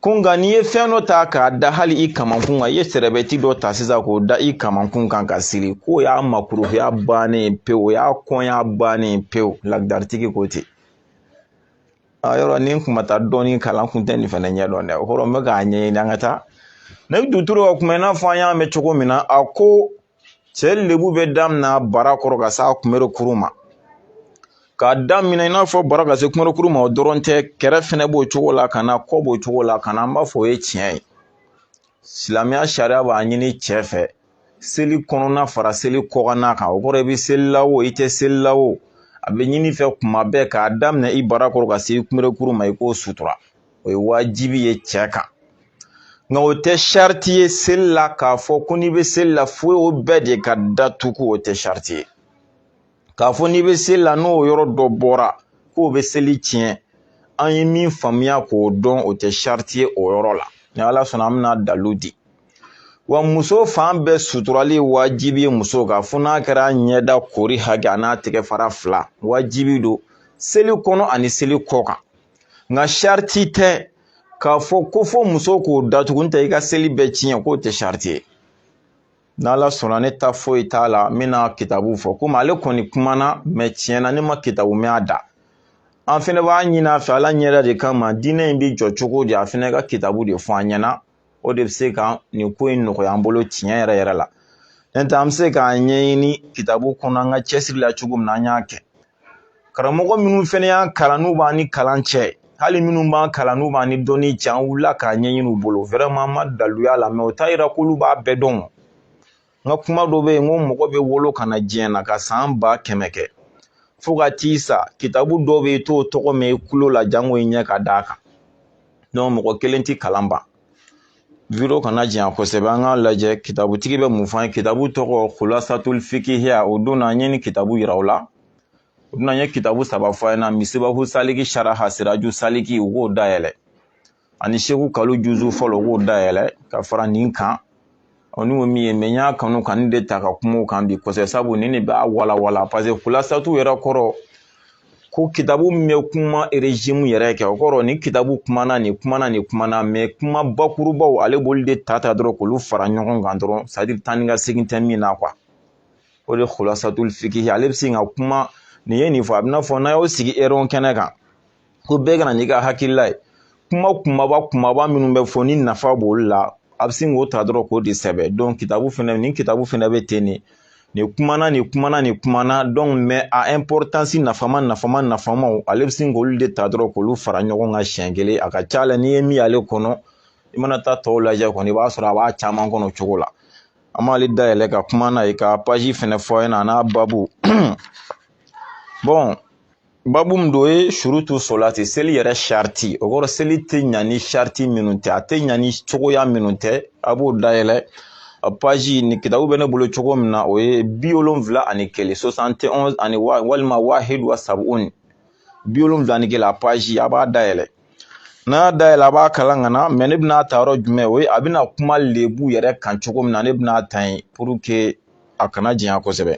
ko nka n'i ye fɛn dɔ ta k'a da hali i kamankun kan i ye sɛrɛbɛti dɔ ta sisan k'o da i kamankun kan k'a siri k'o y'a makuruhuya bannen pewu o y'a kɔnya bannen pewu lakidaritigi ko ten a yɔrɔ ni n kun ma taa dɔɔnin kalan n kun tɛ nin fɛnɛ ɲɛdɔn dɛ o kɔrɔ n bɛ k'a ɲɛɲini an ka taa ne duturu ka kuma i n'a fɔ an y'a mɛn cogo min na a ko cɛ lebu bɛ daminɛ bara kɔrɔ ka se a kunberekuru ma k'a daminɛ i n'a fɔ bara ka se kunberekuru ma o dɔrɔn tɛ kɛrɛ fɛnɛ b'o cogo la ka na kɔ b'o cogo la ka na an b'a fɔ o ye tiɲɛ ye silamɛya sariya b'a ɲini cɛ fɛ seli kɔnɔna fara seli kɔkanna kan o kɔrɔ i bɛ seli la o i tɛ seli la o a bɛ ɲini i fɛ kuma bɛɛ k'a daminɛ i bara kɔrɔ ka se i kunberekuru ma i k'o sutura o ye wajibi ye cɛ kan nka o tɛ sariti ye seli la k'a fɔ ko n'i bɛ seli la fo o bɛɛ de ka datugu o tɛ sariti ye k'a fɔ n'i bɛ seli la n'o yɔrɔ dɔ bɔra k'o bɛ seli tiɲɛ an ye min faamuya k'o dɔn o tɛ sariti ye o yɔrɔ la ni ala sɔnna an bɛna dalu di wa muso fan bɛɛ suturali wajibi ye muso kan fo n'a kɛra ɲɛda koori hakɛ a n'a tɛgɛ fara fila wajibi don seli kɔnɔ ani seli kɔkan nka sariti tɛ k'a fɔ ko fo muso k'o datugu n'o tɛ i ka seli bɛ tiɲɛ k'o tɛ sariti ye n'ala sɔnna ne ta foyi t'a la n bɛna kitabu fɔ komi ale kɔni kumana mɛ tiɲɛ na ne ma kitabu mɛn a da an fɛnɛ b'a ɲini a fɛ ala ɲɛda de kama diinɛ in bɛ jɔ cogo di a fɛnɛ ka kitabu de fɔ an ɲɛna o de bɛ se ka nin ko in nɔgɔya an bolo tiɲɛ yɛrɛ yɛrɛ la n'o tɛ an bɛ se k'a ɲɛɲini kitabu kɔnɔ an ka cɛsiri la cogo min na an y'a kɛ karamɔgɔ minnu fɛnɛ y'an kalan n'u b'an ni kalan cɛ hali minnu b'an kalan n'u b'an ni dɔnni cɛ an wulila k'a ɲɛɲini u bolo vrɛman an ma dalu y'a la mɛ o t'a yira k'olu b'a bɛɛ dɔn n ka kuma dɔ bɛ yen n ko mɔgɔ bɛ wolo ka na diɲɛ na ka san ba kɛmɛ kɛ fo ka t'i sa kitabu dɔ bɛ yen i t'o tɔgɔ mɛn i kulo la janko i ɲɛ ka d'a kan mɔgɔ kelen tɛ kalan ban video kana janya kosɛbɛ an k'a lajɛ kitabutigi bɛ mun fɔ an ye kitabu tɔgɔ kulasatul fikihiya o don na an ye nin kitabu yira u la u bɛna n ye kitabu saba fɔ a ɲɛna misibahu saliki saraha siraju saliki u k'o dayɛlɛ ani seku kalu juzu fɔlɔ k'o dayɛlɛ ka fara nin kan ɔ ni ko min ye mɛ n y'a kanu ka nin de ta ka kuma o kan bi kosɛbɛ sabu nin de b'a walawala paseke kulasatu yɛrɛ kɔrɔ ko kitabu min bɛ kuma erezime yɛrɛ kɛ o kɔrɔ nin kitabu kumana nin kumana nin kumana mɛ kuma bakurubaw ale b'olu de ta ta dɔrɔn k'olu fara ɲɔgɔn kan dɔrɔn sadiri taa ni ka segin tɛ min na kuwa o de kulasatul fikihi ale bɛ se ka kuma nin ye nin fɔ a bɛ n'a fɔ n'a y'o sigi erɔn kɛnɛ kan ko bɛɛ kana n'i ka hakilila ye kuma kumaba kumaba minnu bɛ fɔ ni nafa b'olu la a bɛ sin k'o ta dɔrɔn k'o de sɛbɛn kitabu fɛnɛ nin kitabu fɛnɛ bɛ ten de nin kumana nin kumana nin kumana mɛ a ɛnpɔritansi nafama nafama nafamaw ale bɛ sin k'olu de ta dɔrɔn k'olu fara ɲɔgɔn kan siɲɛ kelen a ka ca la n'i ye min y'ale kɔnɔ i mana taa tɔw lajɛ kɔni i b'a sɔrɔ a b'a caman kɔnɔ o cogo la an b'ale dayɛlɛ ka kuma n'a ye ka paji fɛnɛ fɔ a ɲɛna a n'a babu babu min don o ye surutu solati seli yɛrɛ sariti o kɔrɔ seli tɛ ɲa ni sariti minnu tɛ a tɛ ɲa ni cogoya minnu tɛ a b'o dayɛlɛ a paji nin kitabu bɛ ne bolo cogo min na o ye bi wolonfila ani kelen sosante ɔnzi walima wahidu wa sabuni bi wolonfila ni kelen a paji a b'a dayɛlɛ n'a y'a dayɛlɛ a b'a kalan ka na mɛ ne bɛna ta yɔrɔ jumɛn o ye a bɛna kuma lebu yɛrɛ kan cogo min na ne bɛna ta yen puruke a kana janya kosɛbɛ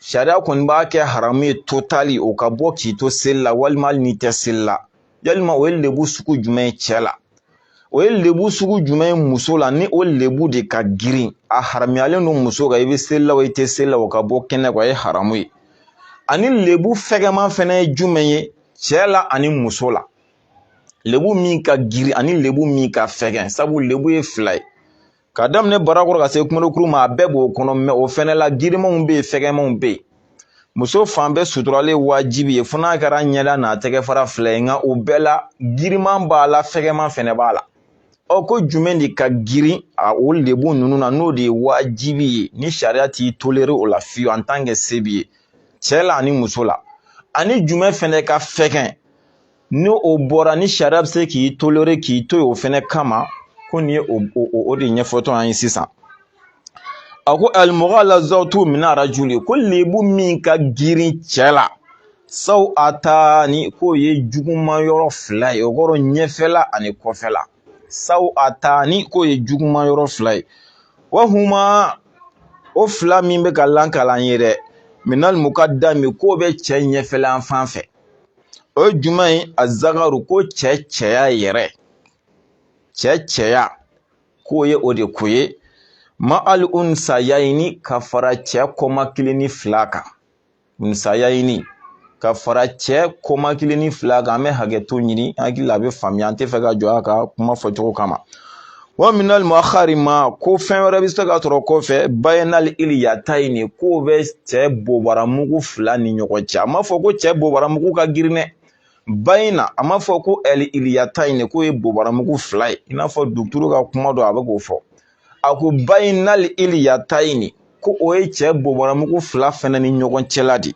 sariya kɔni b'a kɛ haramu ye totali o ka bɔ k'i to seli la walima hali n'i tɛ seli la walima o ye lebu sugu jumɛn ye cɛ la o ye lebu sugu jumɛn ye muso la ni o lebu de ka girin a haramuyalen don muso kan i bɛ seli la o i tɛ seli la o ka bɔ kɛnɛ kan o ye haramu ye ani lebu fɛgɛman fɛnɛ ye jumɛn ye cɛ la ani muso la lebu min ka girin ani lebu min ka fɛgɛn sabu lebu ye fila ye ka daminɛ barakɔrɔ ka se kunberekuru ma a bɛɛ b'o kɔnɔ mɛ o fɛnɛ la girimanw bɛ yen fɛgɛmanw bɛ yen muso fan bɛɛ suturalen wajibi ye fo n'a kɛra ɲɛda n'a tɛgɛ fara fila ye nka o bɛɛ la giriman b'a la fɛgɛman fɛnɛ b'a la ɔ ko jumɛn de ka girin a o lebu ninnu na n'o de ye wajibi ye ni sariya t'i tolere o la fiyewu en tant que se b'i ye cɛ la ani muso la ani jumɛn fɛnɛ ka fɛgɛn ni o bɔra ni sariya bɛ se k'i tolere k'i to yen o fɛnɛ kama ko nin ye o de ɲɛfɔtɔ an ye sisan a ko alimugalazatu min arajuli ko lebu min ka girin cɛ la sawatani k'o ye juguman yɔrɔ fila ye o kɔrɔ ɲɛfɛla ani kɔfɛla sawatani k'o ye juguman yɔrɔ fila ye wahuma o fila min bɛ ka lankalan ye dɛ minal mukadami k'o bɛ cɛ ɲɛfɛla fan fɛ o ye jumɛn ye azakaru ko cɛ cɛya yɛrɛ cɛ cɛya k'o ye o de koyi ma ali unsayayini ka fara cɛ kɔmakilinin fila kan unsayayini ka fara cɛ kɔmakilinin fila kan an bɛ hakɛto ɲini hakili la a bɛ faamuya an tɛ fɛ ka jɔ a ka kuma fɔcogo kama wa minal muakhari ma ko fɛn wɛrɛ bɛ se ka sɔrɔ kɔfɛ bayinal iliyatayini k'o bɛ cɛ bobaramugu fila ni ɲɔgɔn cɛ a ma fɔ ko cɛ bobaramugu ka girin dɛ bayina a ma fɔ ko ɛli iliyatayini k'o ye bobaramugu fila ye i n'a fɔ duturu ka kuma dɔ a bɛ k'o fɔ a ko bayinal iliyatayini ko o ye cɛ bobaramugu fila fɛnɛ ni ɲɔgɔn cɛla de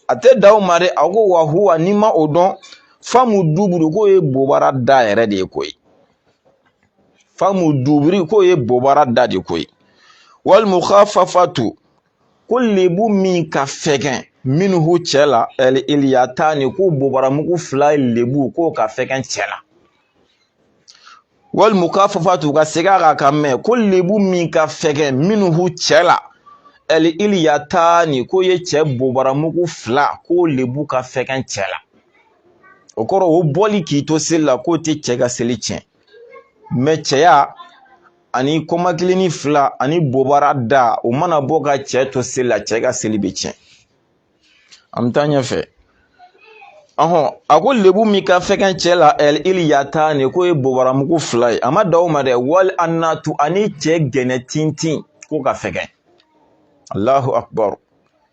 a tɛ dan o ma dɛ a ko wa huwa n'i ma o dɔn famu duburu k'o ye bobara da yɛrɛ de ye koyi famu duburi k'o ye bobara da de koyi wali mukafafatu ko lebu min ka fɛgɛn minhu cɛ la ɛli iliyatani ko bobaramugu fila lebu k'o ka fɛgɛn cɛ la wali mukafafatu ka segin a kan ka mɛn ko lebu min ka fɛgɛn minhu cɛ la ɛli iliyatani k'o ye cɛ bobaramugu fila k'o lebu ka fɛgɛn cɛ la o kɔrɔ o bɔli k'i to seli la k'o tɛ cɛ ka seli tiɲɛ mɛ cɛya ani kɔmakilinin fila ani bobara da o mana bɔ ka cɛ to seli la cɛ ka seli bɛ tiɲɛ an bɛ taa ɲɛfɛ ɔhɔn a ko lebu min ka fɛgɛn cɛ la ɛli iliyatani k'o ye bobaramugu fila ye a ma dan o ma dɛ wali anatu ani cɛ gɛnɛ tintin k'o ka fɛgɛn alahu akubaru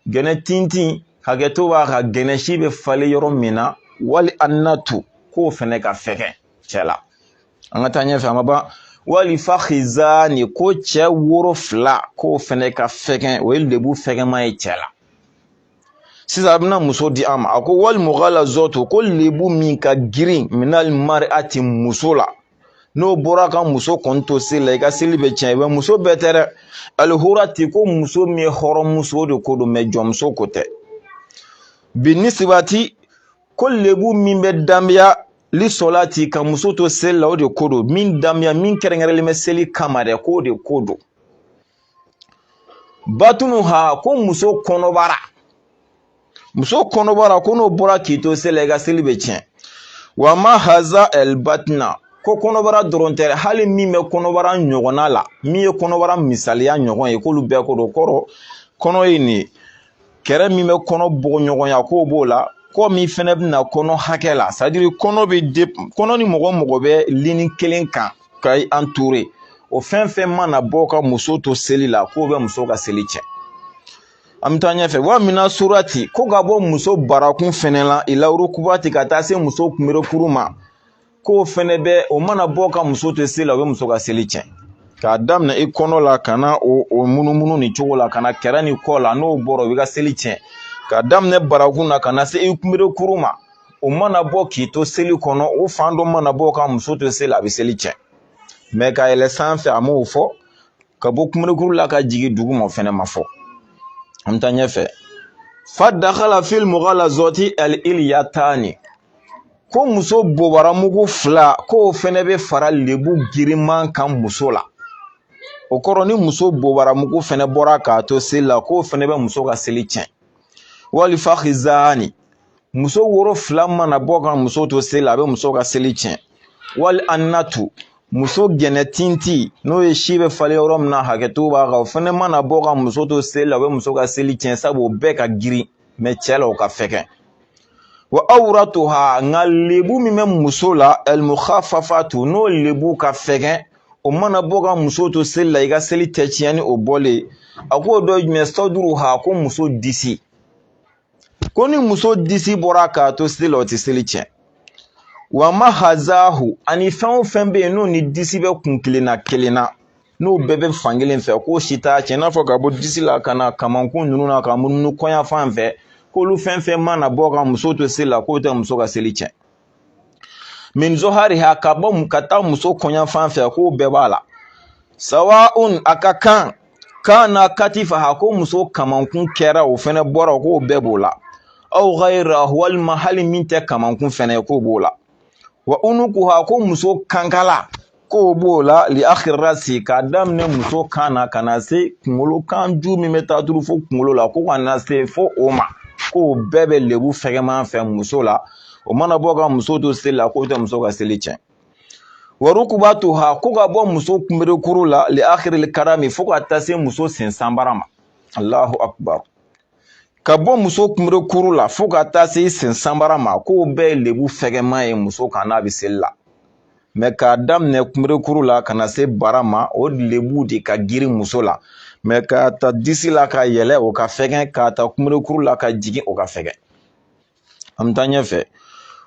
gɛnɛ tintin hakɛto b'a kan gɛnɛ si bɛ falen yɔrɔ min na wali annatu k'o fɛnɛ ka fɛgɛn cɛ la an ka taa ɲɛfɛ an ma ban wali fakizani ko cɛ woro fila k'o fɛnɛ ka fɛgɛn o ye lebu fɛgɛnma ye cɛ la sisan a bɛna muso di an ma a ko wali mugalazatu ko lebu min ka girin minali mariati muso la n'o bɔra ka muso kɔni to seli la i ka seli bɛ tiɲɛ mɛ muso bɛɛ tɛ dɛ alihurati ko muso min ye hɔrɔnmuso o de ko don mɛ jɔnmuso ko tɛ binisibati ko lebu min bɛ danbeya lisɔlati ka muso to seli la o de ko don min danbeya min kɛrɛnkɛrɛnlen bɛ seli kama dɛ k'o de ko don batunuha ko muso kɔnɔbara muso kɔnɔbara ko n'o bɔra k'i to seli la i ka seli bɛ tiɲɛ wa ma haza ɛlibatina ko kɔnɔbara dɔrɔn tɛ dɛ hali min bɛ kɔnɔbara ɲɔgɔnna la min ye kɔnɔbara misaliya ɲɔgɔn ye k'olu bɛɛ ko don kɔrɔ kɔnɔ ye nin ye kɛrɛ min bɛ kɔnɔ bɔɲɔgɔnya k'o b'o la kɔ min fɛnɛ bɛna kɔnɔ hakɛ la c'est-à-dire kɔnɔ bɛ de kɔnɔ ni mɔgɔ mɔgɔ bɛ lini kelen kan ka entourer o fɛn fɛn mana bɔ ka muso to seli la k'o bɛ muso ka seli tiɲɛ an bɛ taa ɲɛfɛ wa mina surati ko ka bɔ muso barakun fɛnɛ la ila rukubati ka taa se muso kunberekuru ma k'o fɛnɛ bɛ o mana bɔ ka muso to seli la o bɛ muso ka seli tiɲɛ k'a daminɛ i kɔnɔ la ka na o o munumunu nin cogo la ka na kɛrɛ ni kɔ la n'o bɔra o b'i ka seli tiɲɛ k'a daminɛ barakun na ka na se i kunberekuru ma o mana bɔ k'i to seli kɔnɔ o fan dɔ mana bɔ ka muso to seli a bɛ seli tiɲɛ mɛ ka yɛlɛ sanfɛ a m'o fɔ ka bɔ kunberekuru la ka jigin duguma o fɛnɛ ma fɔ an bɛ taa ɲɛfɛ fa dakala fil mugalazati ali iliyatani ko muso bobaramugu fila k'o fɛnɛ bɛ fara lebu girinman kan muso la o kɔrɔ ni muso bobaramugu fɛnɛ bɔra k'a to seli la k'o fɛnɛ bɛ muso ka seli tiɲɛ wali fakizani muso woro fila mana bɔ ka muso to seli la a bɛ muso ka seli tiɲɛ wali annatu muso gɛnɛ tintin n'o ye si bɛ falen yɔrɔ min na hakɛto b'a kan o fɛnɛ mana bɔ ka muso to seli la o bɛ muso ka seli tiɲɛ sabu o bɛɛ ka girin mɛ cɛ la o ka fɛgɛn wa awratuha nka lebu min bɛ muso la almukhafafatu n'o lebu ka fɛgɛn o mana bɔ ka muso to seli la i ka seli tɛ tiɲɛ ni o bɔlen a k'o dɔ ye jumɛn sɔduruha ko muso disi ko ni muso disi bɔra k'a to seli la o tɛ seli tiɲɛ wa mahazahu ani fɛn o fɛn bɛ yen n'o ni disi bɛ kun kelen na kelen na n'o bɛɛ bɛ fankelen fɛ k'o si t'a tiɲɛ i n'a fɔ ka bɔ disi la ka na kamankun ninnu na ka munumunu kɔɲafan fɛ k'olu fɛn fɛn mana bɔ ka muso to seli la k'o tɛ muso ka seli tiɲɛ min zohariha ka bɔ ka taa muso kɔɲafan fɛ k'o bɛɛ b'a la sawaun a ka kan kana katifaha ko muso kamankun kɛra o fɛnɛ bɔra k'o bɛɛ b'o la aw ghayra walima hali min tɛ kamankun fɛnɛ ye k'o b'o la wa unukuha ko muso kankala k'o b'o la li akhir rasi k'a daminɛ muso kan na ka na se kunkolo kan ju min bɛ taa turu fo kunkolo la ko ka na se fo o ma k'o bɛɛ bɛ lebu fɛgɛman fɛ muso la o mana bɔ ka muso to seli la k'o tɛ muso ka seli tiɲɛ wa rukubatuha ko ka bɔ muso kunberekuru la li akhiril karami fo ka taa se muso sen sanbara ma allahu akbar ka bɔ muso kunberekuru la fo ka taa se sen sanbara ma k'o bɛɛ ye lebu fɛgɛman ye muso kan n'a bɛ seli la mɛ k'a daminɛ kunberekuru la ka na se bara ma o lebu de ka girin muso la mɛ k'a ta disi la ka yɛlɛ o ka fɛgɛn k'a ta kunberekuru la ka jigin o ka fɛgɛn an bɛ taa ɲɛfɛ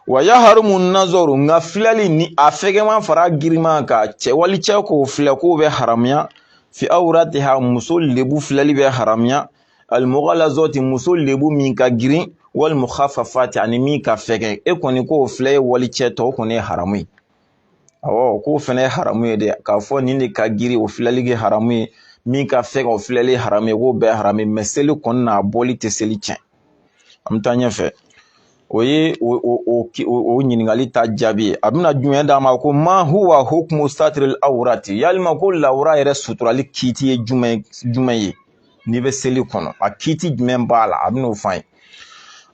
wa yaharumu nazɔru nka filɛli ni a fɛgɛman fara girinma kan cɛ wali cɛ k'o filɛ k'o bɛ haramuya fi awratiha muso lebu filɛli bɛ haramuya almughalazati muso lebu min ka girin wal mukhaffafati ani min ka fɛgɛn e kɔni k'o filɛ ye wali cɛ tɔ o kɔni ye haramu ye awɔ k'o fɛnɛ ye haramu ye dɛ k'a fɔ nin de ka girin o filɛli kɛ haramu ye min ka fɛgɛn o filɛli haramu ye k'o bɛɛ haramu ye mɛ seli kɔni na a bɔli tɛ seli tiɲɛ an bɛ taa ɲɛfɛ o ye o ɲininkali ta jaabi ye a bɛna jumɛn d'a ma ko ma huwa hukumu satiril awurati yalima ko lawura yɛrɛ suturali kiiti ye jumɛn jumɛn ye n'i bɛ seli kɔnɔ a kiiti jumɛn b'a la a bɛn'o fɔ an ye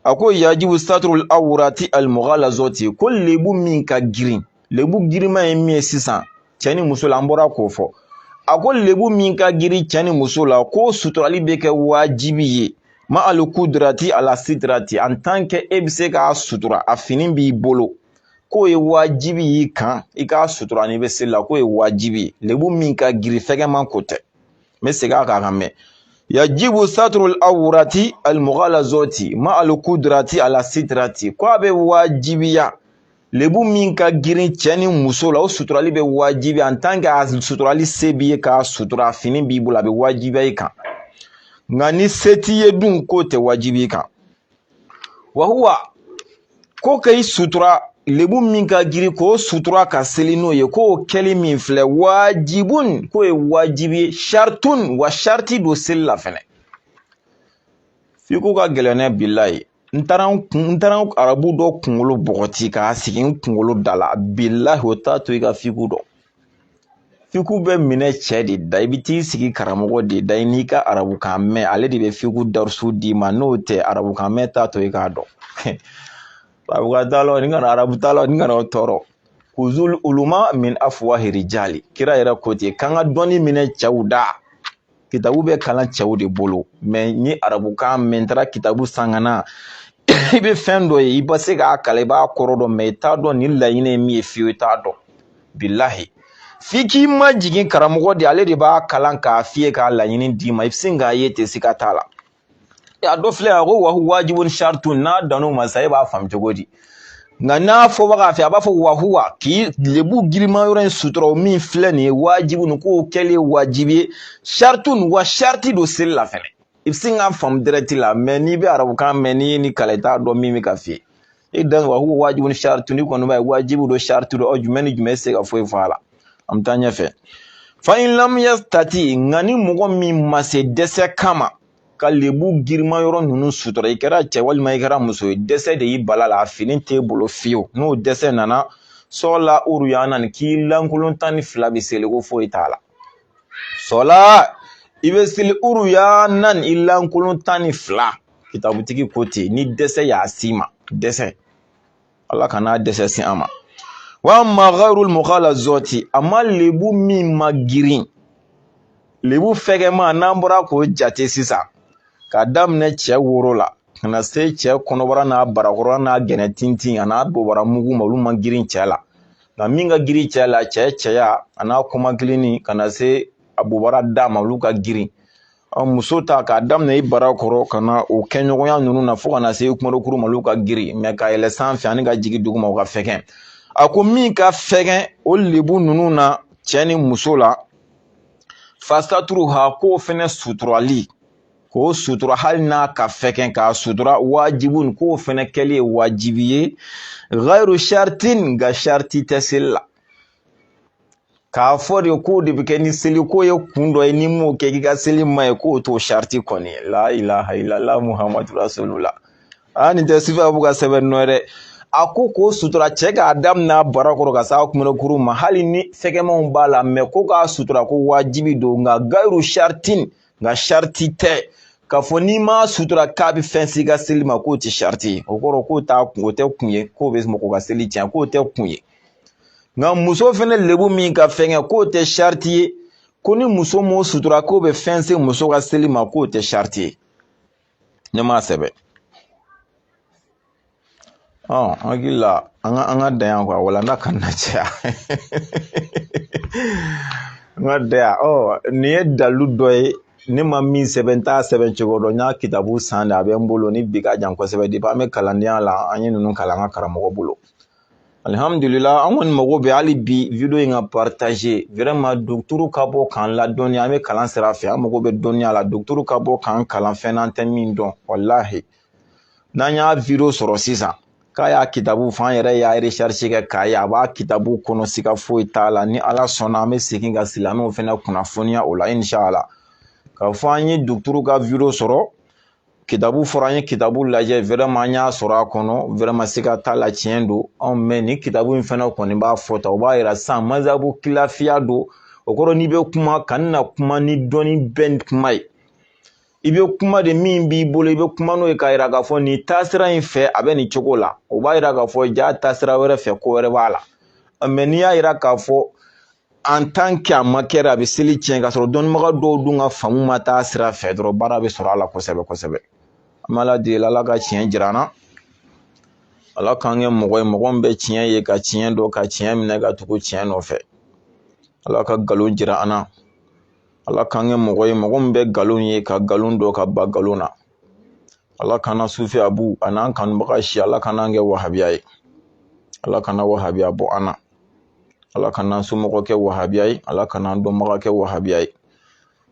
a ko yajibu saturul awurati almughalazati ko lebu min ka girin lebu girinma ye min ye sisan cɛ ni muso la an bɔra k'o fɔ a ko lebu min ka girin cɛ ni muso la k'o suturali bɛ kɛ wajibi ye ma alikudrati ala sitrati en tant que e bɛ se k'a sutura a fini b'i bolo k'o ye wajibi y'i kan i k'a sutura n'i bɛ seli la k'o ye wajibi ye lebu min ka girin fɛgɛman ko tɛ n bɛ segin a kan k'a mɛn yajibu saturul awurati almughalazati ma alikudrati ala sitirati ko a bɛ wajibiya lebu min ka girin cɛ ni muso la o suturali bɛ wajibiya en tant que a suturali se b'i ye k'a sutura a fini b'i bolo a bɛ wajibiya i kan nka ni se t'i ye dun k'o tɛ wajibi i kan wahuwa ko ka i sutura lebu min ka girin k'o sutura ka seli n'o ye k'o kɛli min filɛ wajibun k'o ye wajibi ye shartun wa sharti don seli la fɛnɛ fiku ka gɛlɛn ne bilahi ni n taara arabu dɔ kunkolo bɔgɔti k'a sigi n kunkolo da la bilahi o t'a to i ka fiku dɔn fiku bɛ minɛ cɛ de da i bɛ t'i sigi karamɔgɔ de da i n'i ka arabukan mɛn ale de bɛ fiku darusu d'i ma n'o tɛ arabukan mɛn t'a to i k'a dɔn arabukan t'a la ni kana arabu t'a la ni kana o tɔɔrɔ kuzul uluma min afuwahi rijali kira yɛrɛ ko ten k'an ka dɔnni minɛ cɛw da kitabu bɛ kalan cɛw de bolo mɛ n ye arabukan mɛn n taara kitabu san ka na i bɛ fɛn dɔ ye i bɛ se k'a kalan i b'a kɔrɔ dɔn mɛ i t'a dɔn nin laɲini ye min ye fiyewu i t'a dɔn bilahi f'i k'i majigin karamɔgɔ de ale de b'a kalan k'a f'i ye k'a laɲini d'i ma i bɛ sin k'a ye ten siga t'a la a dɔ filɛ a ko wahuwa wajibun shartun n'a dan'o ma sa e b'a faamu cogo di nka n'a fɔbaga fɛ a b'a fɔ wahuwa k'i lebu girinma yɔrɔ in sutura min filɛ nin ye wajibun k'o kɛli ye wajibi ye shartun wa sharti don seli la fɛnɛ i bɛ sin k'a faamu dɛrɛti la mɛ n'i bɛ arabukan mɛn n'i ye nin kalan i t'a dɔn min bɛ ka f'i ye e dan wahuwa wajibun shartun i kɔni b'a ye wajibu don shartu don ɔ jumɛn ni jumɛn se ka foyi fɔ a la an bɛ taa ɲɛfɛ fa in lam yastati nka ni mɔgɔ min ma se dɛsɛ kama ka lebu girinma yɔrɔ ninnu sutura i kɛra cɛ walima i kɛra muso ye dɛsɛ de y'i bal'a la a fini t'e bolo fiyewu n'o dɛsɛ nana sɔɔla uruyanan k'i lankolon tan ni fila bɛ seli ko foyi t'a la sɔɔla i bɛ seli uruyanan i lankolon tan ni fila kitabutigi ko ten ni dɛsɛ y'a s'i ma dɛsɛ ala kana dɛsɛ se an ma wa ama gayrul mugalazati ama lebu min man girin lebu fɛgɛman n'an bɔra k'o jate sisan k'a daminɛ cɛ woro la ka na se cɛ kɔnɔbara n'a barakɔrɔ n'a gɛnɛ tintin a n'a bobara mugu ma olu man girin cɛ la nka min ka girin cɛ la cɛ cɛya a n'a kɔmakilinni ka na se a bobara da ma olu ka girin muso ta k'a daminɛ i barakɔrɔ ka na o kɛɲɔgɔnya ninnu na fo ka na se kumarokuru ma olu ka girin mɛ ka yɛlɛ sanfɛ ani ka jigin duguma o ka fɛgɛn a ko min ka fɛgɛn o lebu ninnu na cɛ ni muso la fasatruha k'o fɛnɛ suturali k'o sutura hali n'a ka fɛgɛn k'a sutura wajibun k'o fɛnɛ kɛli ye wajibi ye ghayru shartin nka sharti tɛ seli la k'a fɔ de k'o de bɛ kɛ ni seli k'o ye kun dɔ ye n'i m'o kɛ k'i ka seli ma ɲɛ k'o t'o sariti kɔni ye la ilaha ilala muhamadu rasulula aa nin tɛ sifa b'u ka sɛbɛn nɔ ye dɛ a ko k'o sutura cɛ k'a daminɛ barakɔrɔ ka s'a kunbɛkuru ma hali ni fɛgɛmanw b'a la mɛ ko k'a sutura ko wajibi don nka gayiru shartin nka sariti tɛ k'a fɔ n'i m'a sutura k'a bɛ fɛn s'i ka seli ma k'o tɛ sariti ye o kɔrɔ k'o t'a kun o tɛ kun ye k'o bɛ mɔgɔ ka seli tiɲɛ k'o tɛ kun ye nka muso fɛnɛ lebu min ka fɛngɛ k'o tɛ sariti ye ko ni muso m'o sutura k'o bɛ fɛn se muso ka seli ma k'o tɛ sariti ye ne m'a sɛbɛn ɔ n hakili la an ka an ka dan yan kuwa walanda kana caya n ka dan yan ɔ nin ye dalilu dɔ ye ne ma min sɛbɛn n t'a sɛbɛn cogo dɔn n y'a kitabu san de a bɛ n bolo ni bi ka jan kosɛbɛ depuis an bɛ kalandenya la an ye ninnu kalan an ka karamɔgɔ bolo alihamdulila an kɔni mago bɛ hali bi video in ka partage vraiment dɔgɔtɔrɔ ka bɔ k'an ladɔnniya an bɛ kalan sira fɛ an mago bɛ dɔnniya la dɔgɔtɔrɔ ka bɔ k'an kalan fɛn na an tɛ min dɔn walahi n'an y'a video sɔrɔ sisan k'a y'a kitabu fɔ an yɛrɛ y'a recherche kɛ k'a ye a b'a kitabu kɔnɔ siga foyi t'a la ni ala sɔnna an bɛ segin ka silamɛw fɛnɛ kunnafoniya o la inshallah k'a fɔ an ye dɔgɔtɔrɔ ka video sɔrɔ kitabu fɔra an ye kitabu lajɛ vraiment an y'a sɔrɔ a kɔnɔ vraiment siga t'a la tiɲɛ don mais ni kitabu in fɛnɛ kɔni b'a fɔ ta o b'a yira sisan mazhabu kilafiya don o kɔrɔ n'i bɛ kuma kana kuma ni dɔnni bɛɛ kuma ye i bɛ kuma de min b'i bolo i bɛ kuma n'o ye k'a yira k'a fɔ nin taasira in fɛ a bɛ nin cogo la o b'a yira k'a fɔ ja taasira wɛrɛ fɛ ko wɛrɛ b'a la mais n'i y'a yira k'a fɔ en tant que a ma kɛra a bɛ seli tiɲɛ k'a sɔrɔ dɔnnibaga dɔw dun ka faamu ma taa sira fɛ dɔrɔn baara bɛ sɔrɔ a la kosɛbɛ kosɛbɛ an bɛ ala deli ala ka tiɲɛ jira an na ala k'an kɛ mɔgɔ ye mɔgɔ min bɛ tiɲɛ ye ka tiɲɛ dɔn ka tiɲɛ minɛ ka tugu tiɲɛ nɔfɛ ala ka nkalon jira an na ala k'an kɛ mɔgɔ ye mɔgɔ min bɛ nkalon ye ka nkalon dɔn ka ban nkalon na ala kana sufi abu an'an kanubaga si ala kana kɛ wahabiya ye ala kana wahabiya bɔ an na ala kana an somɔgɔ kɛ wahabiya ye ala kana an dɔnbaga kɛ wahabiya ye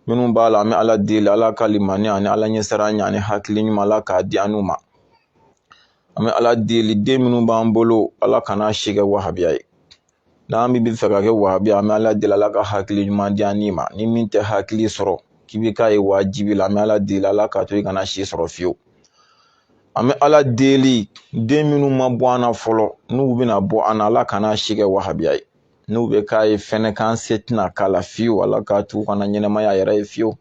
minnu b'a la an bɛ ala deli ala ka limaniya ani ala ɲɛsiranya ani hakili ɲuman ala k'a di an ma an bɛ ala deli den minnu b'an bolo ala kana si kɛ wahabiya ye n'an bɛ fɛ ka kɛ wahabiya an bɛ ala deli ala ka hakili ɲuman di an ma ni min tɛ hakili sɔrɔ k'i bɛ k'a ye wajibi la an bɛ ala deli ala k'a to i kana si sɔrɔ fiyewu an bɛ ala deli den minnu ma bɔ an na fɔlɔ n'u bɛna bɔ an na ala kana si kɛ wahabiya ye n'u bɛ k'a ye fɛnɛ k'an se tɛna k'a la fiyewu ala k'a t'u kana ɲɛnɛmaya yɛrɛ ye fiyewu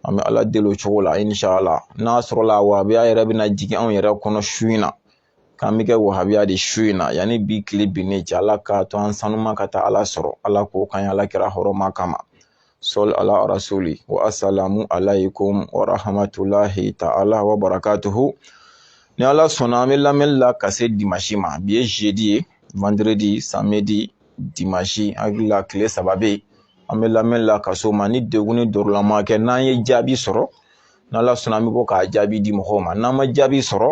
an bɛ ala deli o cogo la inshallah n'a sɔrɔla wahabiya yɛrɛ bɛna jigin anw yɛrɛ kɔnɔ su in na k'an bɛ kɛ wahabiya de su in na yanni bi tile binnen cɛ ala k'a to an sanuma ka taa ala sɔrɔ ala k'o kɛ ala kira hɔrɔma kama sɔli ala rasuli wa asalamu alaykum wa rahmatulahi ta'ala wa barakatuhu ni ala sɔnna an bɛ lamɛnni la ka se dimanche ma bi ye jeudi ye vendredi samedi dimanche an hakili la tile saba bɛ yen an bɛ lamɛnni la ka s'o ma ni degun ni dɔrɔla ma kɛ n'an ye jaabi sɔrɔ n'ala sɔnna an bɛ bɔ k'a jaabi di mɔgɔw ma n'an ma jaabi sɔrɔ